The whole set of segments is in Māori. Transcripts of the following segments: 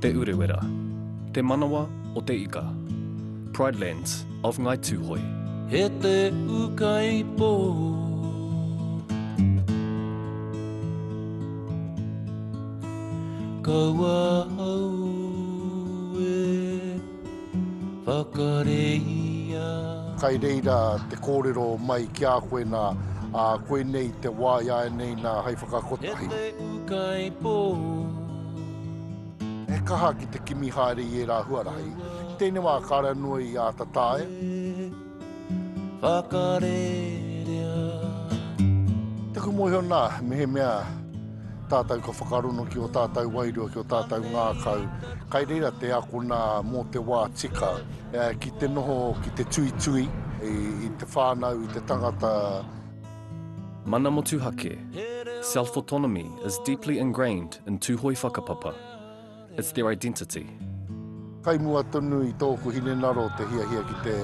Te Urewera, Te Manawa o te Ika, Pride Lands of Ngai Tuhoe. He te ukai po. Kaua au e. whakareia. Kai reira te kōrero mai ki a koe nā, ā, koinei te wā i āianei nā hei whakakotahi. He te ūkaipō. He kaha ki te kimi haere i ērā huarahi. Ki tēnei wā kāre anō i āta taea. whakarerea. Taku mōhio nā, mehemea tātou ka whakarono ki ō tātou wairua, ki ō tātou ngākau, kai reira te akona mō te wā tika, ki te noho, ki te tuitui i te whānau, i te tangata. Mana Motuhake, Self-autonomy is deeply ingrained in Tūhoe whakapapa. It's their identity. Kai mua tonu i tōku hinengaro te hiahia ki te,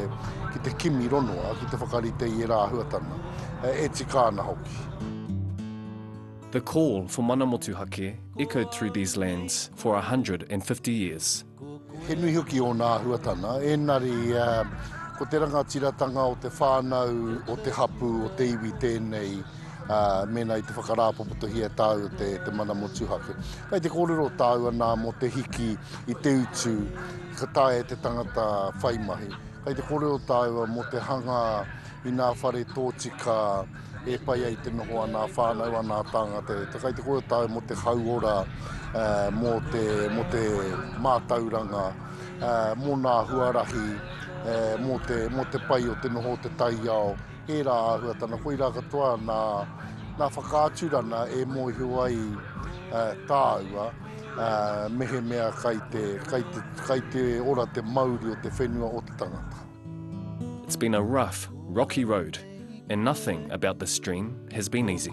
ki te kimi ronoa, ki te whakarite i ērā āhuatanga, e tika ana hoki. The call for mana motuhake echoed through these lands for 150 years. He nui hoki ōna āhuatanga, ēnari uh, ko te rangatiratanga o te whānau, o te hapu, o te iwi tēnei uh, mēnā i te whakarāpopotohia tāu te, te mana motuhake. Kai te kōrero tāu anā mō te hiki i te utu, ka tae te tangata whai mahi. Kai te kōrero tāu mō te hanga i nā whare tōtika e pai ai te noho anā whānau anā tāngata. E kai te kōrero tāu mō te hauora, uh, mō, te, mō te mātauranga, uh, mō nā huarahi, uh, mō, te, mō te pai o te noho o te taiao, Tērā āhua tana koirā katoa nā, nā whakaaturana e mōhio ai uh, tāua uh, mehemea kai te, kai, te, kai te ora te mauri o te whenua o te tangata. It's been a rough, rocky road and nothing about the stream has been easy.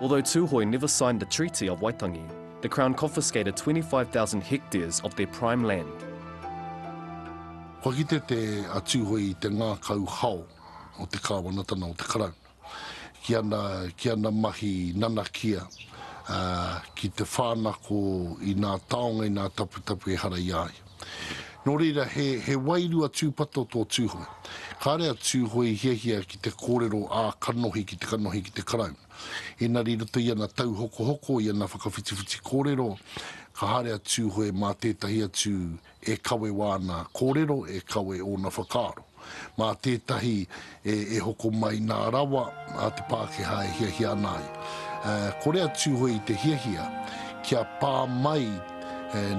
Although Tūhoe never signed the Treaty of Waitangi, the Crown confiscated 25,000 hectares of their prime land. Kua kite te a Tūhoe i te ngākau hao o te Kāwanatana o te Karauna ki ana, ki ana mahi nanakia ki te whānako i nā taonga, i nā taputapu ehara i a ia. Nō reira, he, he wairua tūpato tō Tūhoe. Kāre a Tūhoe i hiahia ki te kōrero ā kanohi ki te kanohi ki te Karauna. Ēnari i roto i ana tauhokohoko, i ana whakawhitiwhiti kōrero, ka haere a Tūhoe mā tētahi atu e kawe wāna kōrero, e kawe ōna whakaaro. Mā tētahi e hoko mai nā rawa a te Pākehā e hiahia ana ai. Kore a Tūhoe i te hiahia kia pā mai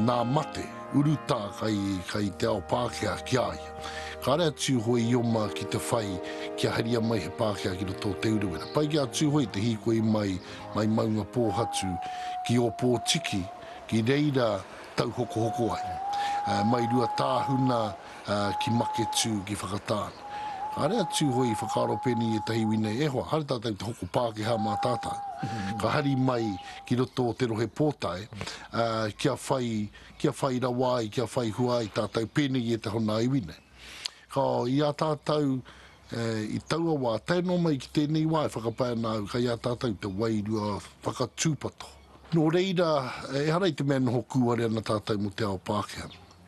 nā mate, urutā kai te ao Pākehā ki a ia. Kāre a Tūhoe i oma ki te whai kia haria mai he Pākehā ki roto o Te Urewera. Pai ki a Tūhoe te hīkoi mai, mai Maungapōhatu ki Ōpōtiki ki reira tauhokohoko ai. Mai Ruatāhuna ki Maketū, ki Whakatāne. Kāre a Tūhoe i whakaaro pēnei i ētahi iwi nei, e hoa, haere tātou i te hoko Pākehā mā tātou. Ka hari mai ki roto o Te Rohe Pōtae kia whai, kia whai rawa ai, kia whai hua ai tātou pēnei i ētahi o nā iwi nei. Ka, i a tātou, i taua wā, tae noa mai ki tēnei wā e whakapae ana au, kei a tātou te wairua whakatūpato. Nō reira, ehara i te mea e noho kūare ana tātou mō te ao Pākehā.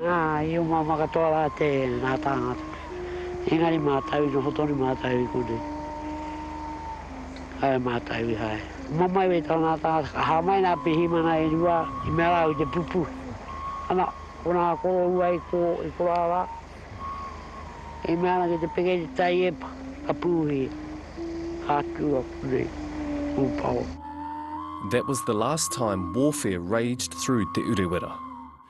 Ā, i umama katoa rā te, ngā tāngata. Engari mātou, i noho tonu mātou i konei. Kāore mātou i haere. Umamai wē tō nā tāngata, ka hāmai nā pirihimana e rua, i mea rāua i te pupū. Ana, ko nā koroua i kō, i korā rā. I mea ana ki te peke i te tai epa, ka pūhi, ka tū a konei, ū pao. That was the last time warfare raged through Te Urewera.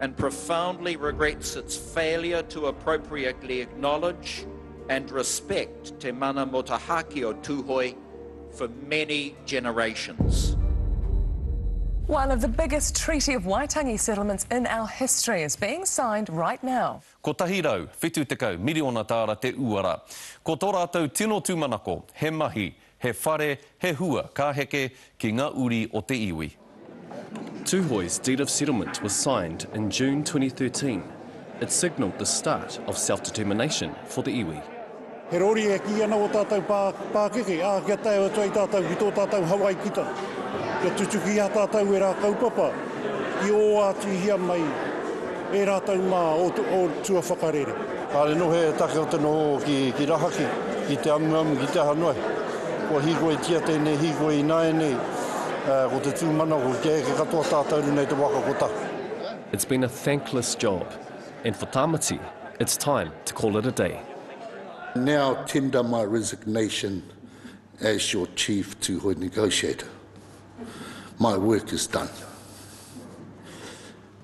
and profoundly regrets its failure to appropriately acknowledge and respect Te Mana Motahaki o Tuhoe for many generations. One of the biggest Treaty of Waitangi settlements in our history is being signed right now. 170 miriona tāra te uara. Ko tō rātou tino tūmanako, he mahi, He whare, he hua ka heke ki nga uri o te iwi. Tuhoe's Deed of Settlement was signed in June 2013. It signalled the start of self-determination for the iwi. He rori e kī ana ō tātou pākeke, ā, kia tae atu ai tātou ki tō tātou Hawaikitanga, kia tutuki i a tātou e rā kaupapa, ki ō ātihia mai. E rātou mā o tua whakarere. Kāre noho he take o te noho ki rahaki, ki te amuamu, ki te aha noa iho. Kua hīkoitia tēnei hīkoi ināianei, ko te tūmanako kia eke katoa tātou rinei te waka kotahi. It's been a thankless job and for Tamati it's time to call it a day. I now tender my resignation as your Chief Tuhoe Negotiator. My work is done.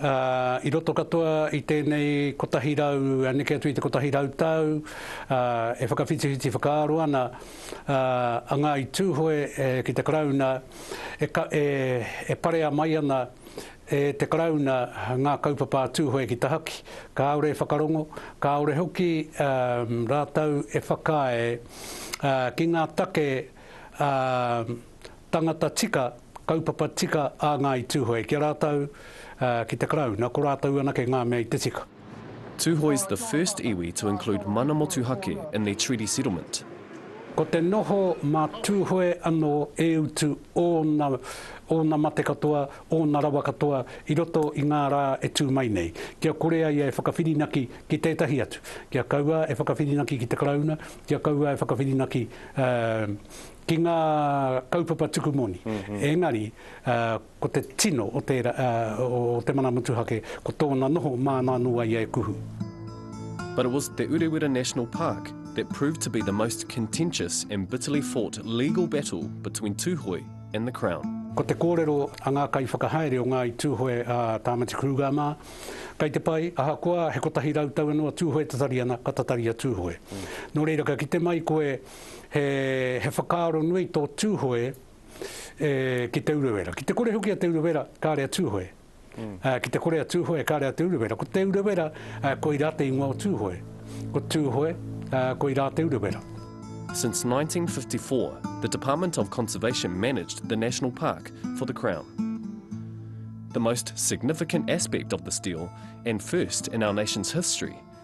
ā, i roto katoa i tēnei kotahi rau, neke atu i te kotahi rau tau, ā, e whakawhitiwhiti whakaaro ana, ā, a Ngāi Tūhoe ki te Karauna, e, e, e parea mai ana e te Karauna ngā kaupapa a Tūhoe ki tahaki, kāore e whakarongo, kāore hoki, ā, rātou e whakaae, ā, ki ngā take, ā, tangata tika, kaupapa tika a Ngāi Tūhoe ki a rātou, ki te Karauna, ko rātou anake ngā mea i te tika. Tūhoe's the first iwi to include mana motuhake in their treaty settlement. Ko te noho mā Tūhoe anō e utu ōna, ōna mate katoa, ōna rawa katoa i roto i ngā rā e tū mai nei, kia kore a ia e whakawhirinaki ki tētahi atu, kia kaua e whakawhirinaki ki te Karauna, kia kaua e whakawhirinaki, ā, ki ngā kaupapa tuku moni, engari ko te tino o tērā, o te mana motuhake, ko tōna noho māna anō ai e kuhu. But it was Te Urewera National Park that proved to be the most contentious and bitterly fought legal battle between Tūhoe and the Crown. Ko te kōrero a ngā kaiwhakahaere o Ngāi Tūhoe a Tāmati Kruger mā, kei te pai, ahakoa he kotahi rau tau anō a Tūhoe Tatariana, ka tatari a Tūhoe. Nō reira ka kite mai koe he whakaaro nui tō Tūhoe ki Te Urewera. Ki te kore hoki a Te Urewera, kāre a Tūhoe. Ki te kore a Tūhoe, kāre a Te Urewera. Ko Te Urewera, koirā te ingoa o Tūhoe. Ko Tūhoe, koirā Te Urewera. Since 1954, the Department of Conservation managed the National Park for the Crown. The most significant aspect of this deal, and first in our nation's history,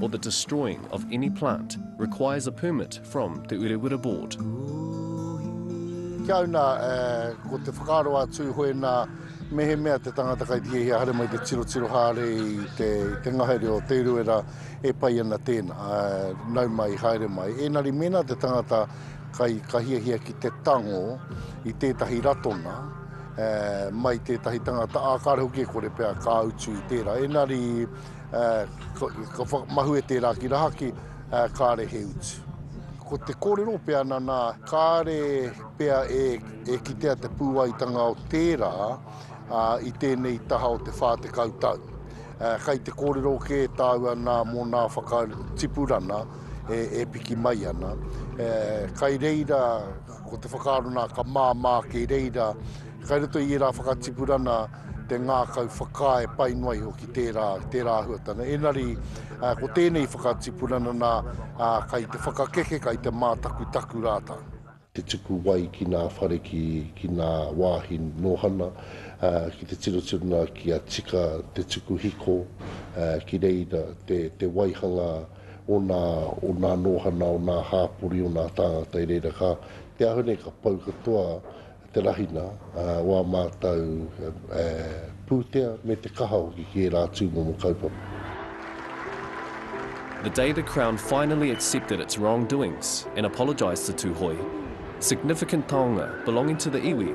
or the destroying of any plant requires a permit from Te Urewera Board. Ki au nā, ko te whakaaro a Tūhoe nā, mehemea te tangata kai te hiahia haere mai te tirotiro haere i te, te ngahere o Te Urewera e pai ana tēnā, nau mai, haere mai. Ēnari mēnā te tangata kai ka hiahia ki te tango i tētahi ratonga, mai tētahi tangata, ā, kāre hoki e kore pea ka utu i tērā. Ēnari, Ka whakamahue tērā ki rahaki, kāre he utu. Ko te kōrero pea nana, kāre pea e kitea te pūaitanga o tērā i tēnei taha o te 40 tau. Kai te kōrero kē tāua nā mō nā whakatipurana e piki mai ana. Kai reira. Ko te whakaaro nā, ka māmā ake reira, kai roto i ērā whakatipurana te ngākau whakaae pai noa iho ki tērā, tērā huatana. Enari, uh, ko tēnei whakatipurana nā, uh, kai te whakakeke, kai te mātakutaku rātau te tuku wai ki nā whare ki, ki nā wāhi nōhana, uh, ki te tirotirona ki a tika te tuku hiko, uh, ki reira te, te waihanga ōna, ōna nōhana, ōna hāpori, ōna tāngata i reira. Ka, te aho nei ka pau katoa te rahina o ā mātou pūtea me te kaha hoki ki ērā tūmomo kaupapa. The day the Crown finally accepted its wrongdoings and apologised to Tūhoe, significant taonga belonging to the iwi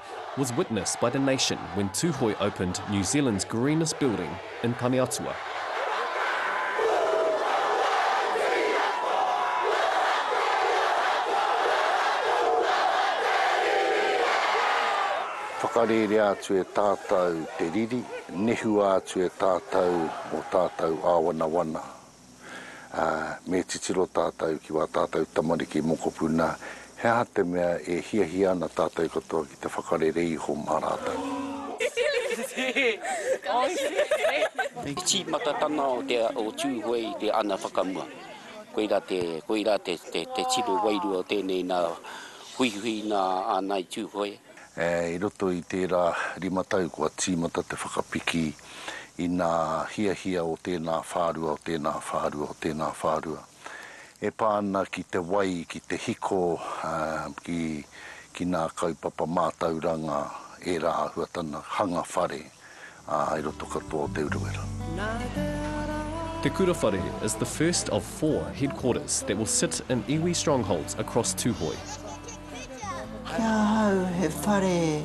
was witnessed by the nation when Tūhoe opened New Zealand's greenest building in Taneatua. Whakarērea atu e tātou te riri, nehua atu e tātou o tātou āwanawana, ā, me titiro tātou ki wā tātou tamariki mokopū nā, he aha te mea e hiahia ana tātou katoa ki te whakarere iho mā rātou? He tīmatatanga o Tūhoe i te ana whakamua. Koirā te, koirā te, te, te tino wairua o tēnei nā, huihuinga ana i Tūhoe. I roto i tērā rima tau kua tīmata te whakapiki i nā hiahia o tēnā whārua, o tēnā whārua, o tēnā whārua e pā ana ki te wai, ki te hiko, ki nā kaupapa mātauranga, ērā āhuatanga hanga whare. ā, i roto katoa o Te Urewera. Te Kura Whare is the first of four headquarters that will sit in iwi strongholds across Tūhoe. Ki ahau he whare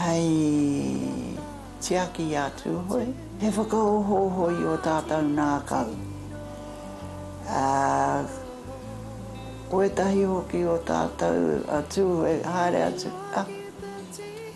hei tiaki i a Tūhoe, he whakaohooho i o tātou ngākau, ā, ko ētahi hoki o tātou a Tūhoe haere atu, ā.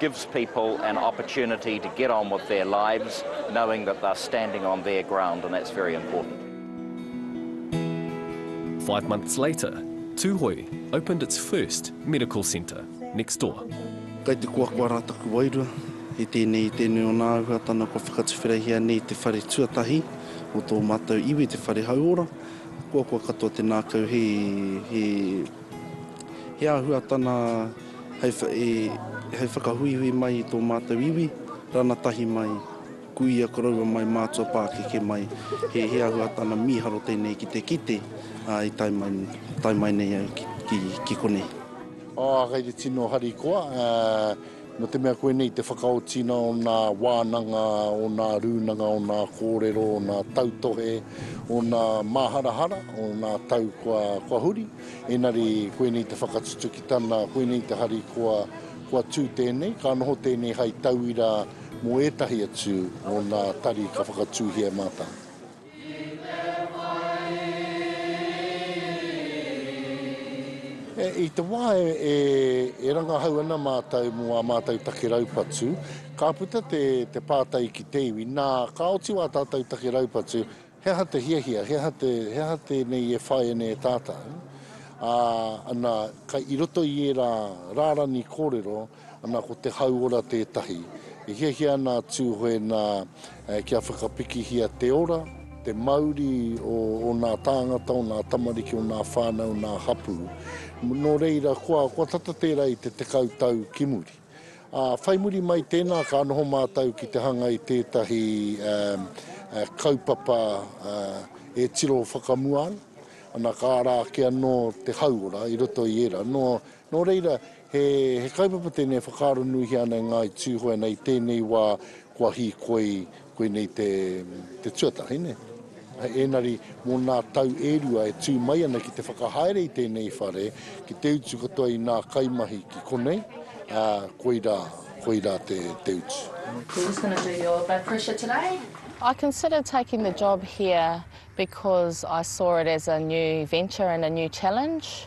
gives people an opportunity to get on with their lives knowing that they're standing on their ground and that's very important. Five months later, Tūhoe opened its first medical centre next door. Kai te koakoa rā taku wairua, i tēnei, i tēnei o nā āhuatana kua whakatuwherehia nei i te whare tuatahi o tō mātou iwi, te whare hauora, koakoa katoa te nākau he, he, he āhuatana hei whakahuihui mai i tō mātou iwi, rana tahi mai, kuia koroua mai, mātua pākeke mai, he he ahuatana mīharo tēnei ki te kite, ā, i tae mai, tae mai nei au ki, ki, ki konei. Ā, kei te tino harikoa, ā, nō te mea koinei te whakaotinga o nā wānanga, o nā rūnanga, o nā kōrero, o nā tautohe, o nā māharahara, o nā tau kua, kua huri, Engari koinei te whakatutuki tana, koinei te harikoa, kua tū tēnei, ka noho tēnei hai tauira mō ētahi atu o nā tari ka whakatūhia e mātau. I te wā e rangahau ana mātau mō ā mātau take raupatu, ka puta te pātai ki te iwi, nā, ka oti wā tātau take raupatu, He aha te hiahia, he aha te, he aha tēnei e whaia nei e tātau, ā, ana, kai, i roto i ērā rārani kōrero, ana, ko te hauora tētahi. E hiahia ana a Tūhoe nā, e, kia whakapikihia te ora, te mauri o ōnā tāngata, ōnā tamariki, ōnā whānau, ōnā hapū, nō reira, kua, kua tata tērā i te tekau tau ki muri. Ā, whai muri mai tēnā ka noho mātou ki te hanga i tētahi kaupapa e tiro whakamua ana, ana ka ara ake anō te hauora i roto i ērā. Nō, nō reira, he, he kaupapa tēnei e whakaaronuihia ana e Ngāi Tūhoe nei i tēnei wā kua hīkoi Koinei te tuatahi, nē? Hei ēnari, mō nā tau e rua e tū mai ana ki te whakahaere i tēnei whare, ki te utu katoa i nā kaimahi ki konei, ā, koirā, koirā te, te utu. We're just gonna do your blood pressure today. I considered taking the job here because I saw it as a new venture and a new challenge.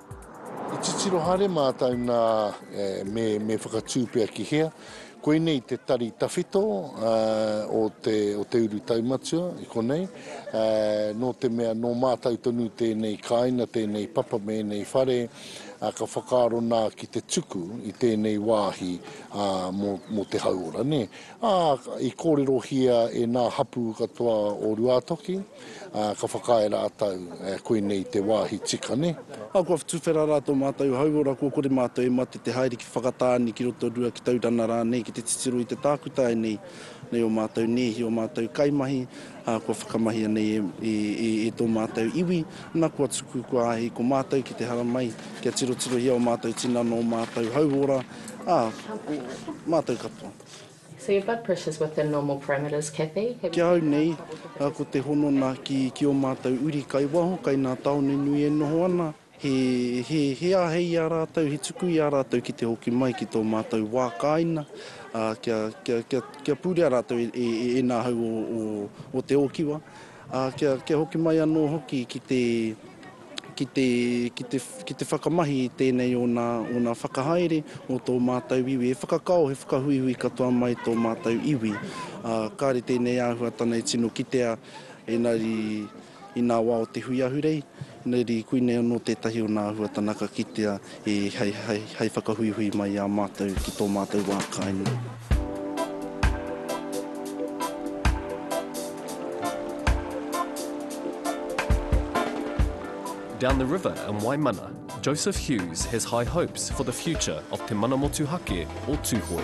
I titiro haere mātou nā, me, me whakatū pea ki hea. Koinei te tari tawhito o te, o te uru taumatua i konei, nō te mea nō mātou tonu tēnei kāina, tēnei papa me ēnei whare, ka whakaaro nā ki te tuku i tēnei wāhi mō, mō te hauora, nē. Ā, i kōrerohia e nā hapū katoa o Ruātoki. Ā, ka whakaae rātou, ā, koinei te wāhi tika, nē. Ā, kua whatuwhera rā tō mātou hauora, kua kore mātou e mate te haere ki Whakatāne, ki Rotorua, ki Taurana rānei, ki te titiro i te tākutai nei, nei ō mātou nēhi, ō mātou kaimahi, ā, kua whakamahia nei e, e, e, e tō mātou iwi, nā, kua tuku, kua āhei ko mātou ki te haramai, kia tirotirohia ō mātou tinana, ō mātou hauora, ā, ō mātou katoa. So your blood pressure is within normal parameters, Cathy. Have you been asked what the difference is? Ki au nei, ko te honona ki, ki o mātou uri kai waho, kai nā tāone nui e noho ana, he, he, he āhei i a rātou, he tuku i a rātou ki te hoki mai ki tō mātou wā kāina, ā, kia, kia, kia, kia pūrea rātou e, e, e ēnā hau o, o, o te ōkiwa, ā, kia, kia hoki mai anō hoki ki te, ki te, ki te, ki te whakamahi i tēnei o nā, o nā whakahaere o tō mātou iwi. He whakakao, he whakahuihui katoa mai tō mātou iwi. Ā, kāre tēnei āhuatana e tino kitea, engari i nā wā o te hui ahurei, engari koinei anō tētahi o nā āhuatana ka kitea I hai hai hai whakahuihui mai i a mātou ki tō mātou wā kāinga. Down the river in Waimana, Joseph Hughes has high hopes for the future of Te Mana Motuhake o Tūhoe.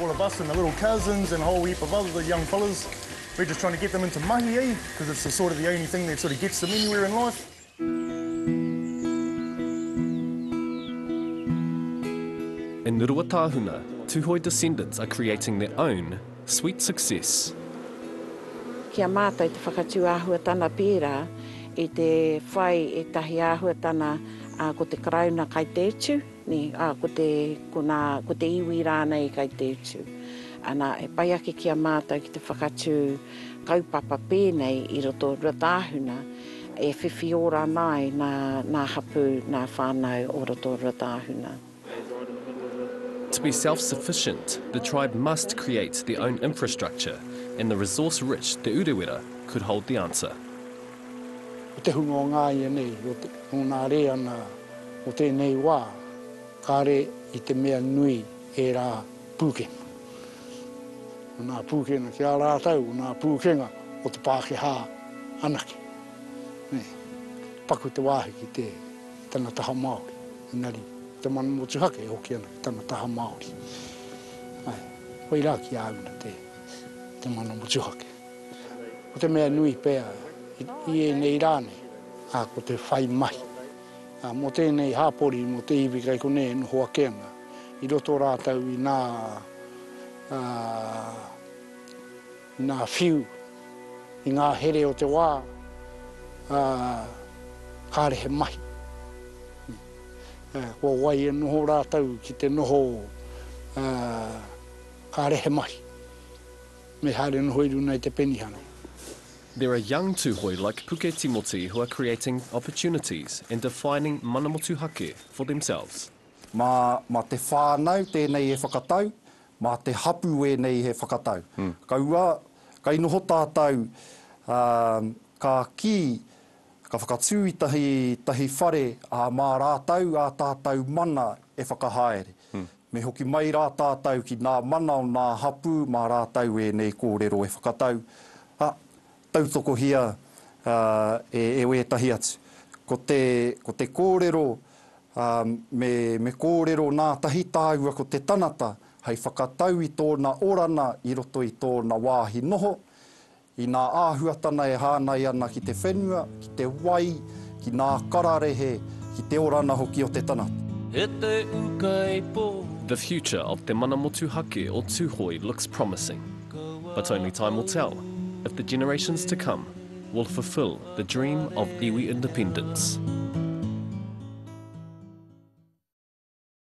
All of us and the little cousins and a whole heap of other young fellas, we're just trying to get them into mahi, eh? Because it's the sort of the only thing that sort of gets them anywhere in life. In Ruatāhuna, Tuhoe descendants are creating their own sweet success. Ki a mātou te whakatū āhuatana pērā i te whai ētahi āhuatana ko te Karauna kai te utu. Nē, ā, ko te, ko nā, ko te iwi rānei kei te utu. Anā, e pai ake ki a mātou ki te whakatū kaupapa pēnei i roto o Ruatāhuna, e whiwhi ora ana ai nā, nā hapū, nā whānau o roto o Ruatāhuna. To be self-sufficient, the tribe must create their own infrastructure, and the resource-rich Te Urewera could hold the answer. Ko te hunga o ngā ianei, ko te, nōnā rē ana o tēnei wā, kāre i te mea nui ērā pūkenga. Ko nā pūkenga ki a rātou, ko nā pūkenga o te Pākehā anake. Nē, paku te wāhi ki te, tana taha Māori, engari te mana motuhake e hoki ana ki tana taha Māori. Ai, koirā ki a una te, te mana motuhake. Ko te mea nui pea i ēnei rā nei, ko te whai mahi mō tēnei hapori, mō te iwi kai konei e noho ake ana, i roto rātou i nā, i nā whiu, i ngā here o te wā, kāre he mahi. Kua wai e noho rātou ki te noho, kāre he mahi. Me haere noho i runa i te penihana. There are young Tuhoe like Puke Timoti who are creating opportunities and defining mana motuhake for themselves. Ma, ma te whanau tenei e whakatau, ma te hapu enei he whakatau. Kaua, kai noho tatou, um, ka ki, ka whakatu i tahi, tahi whare, a ma ratou a tatou mana e whakahaere. Me hoki mai rā tātau ki nā mana o nā hapū mā rātau ēnei kōrero e whakatau, ā, tautokohia e wētahi atu. Ko te, ko te kōrero, ā, me, me kōrero nā tahi tāua ko te tanata hei whakatau i tōna orana i roto i tōna wāhi noho, Inā āhuatana e hānai ana ki te whenua, ki te wai, ki nā kararehe, ki te orana hoki o te tangata. E te ukaipo. The future of Te Mana Motuhake o Tuhoe looks promising, but only time will tell if the generations to come will fulfil the dream of iwi independence.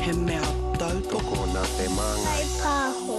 He mea tautoko nā te māngai. Kai pāho.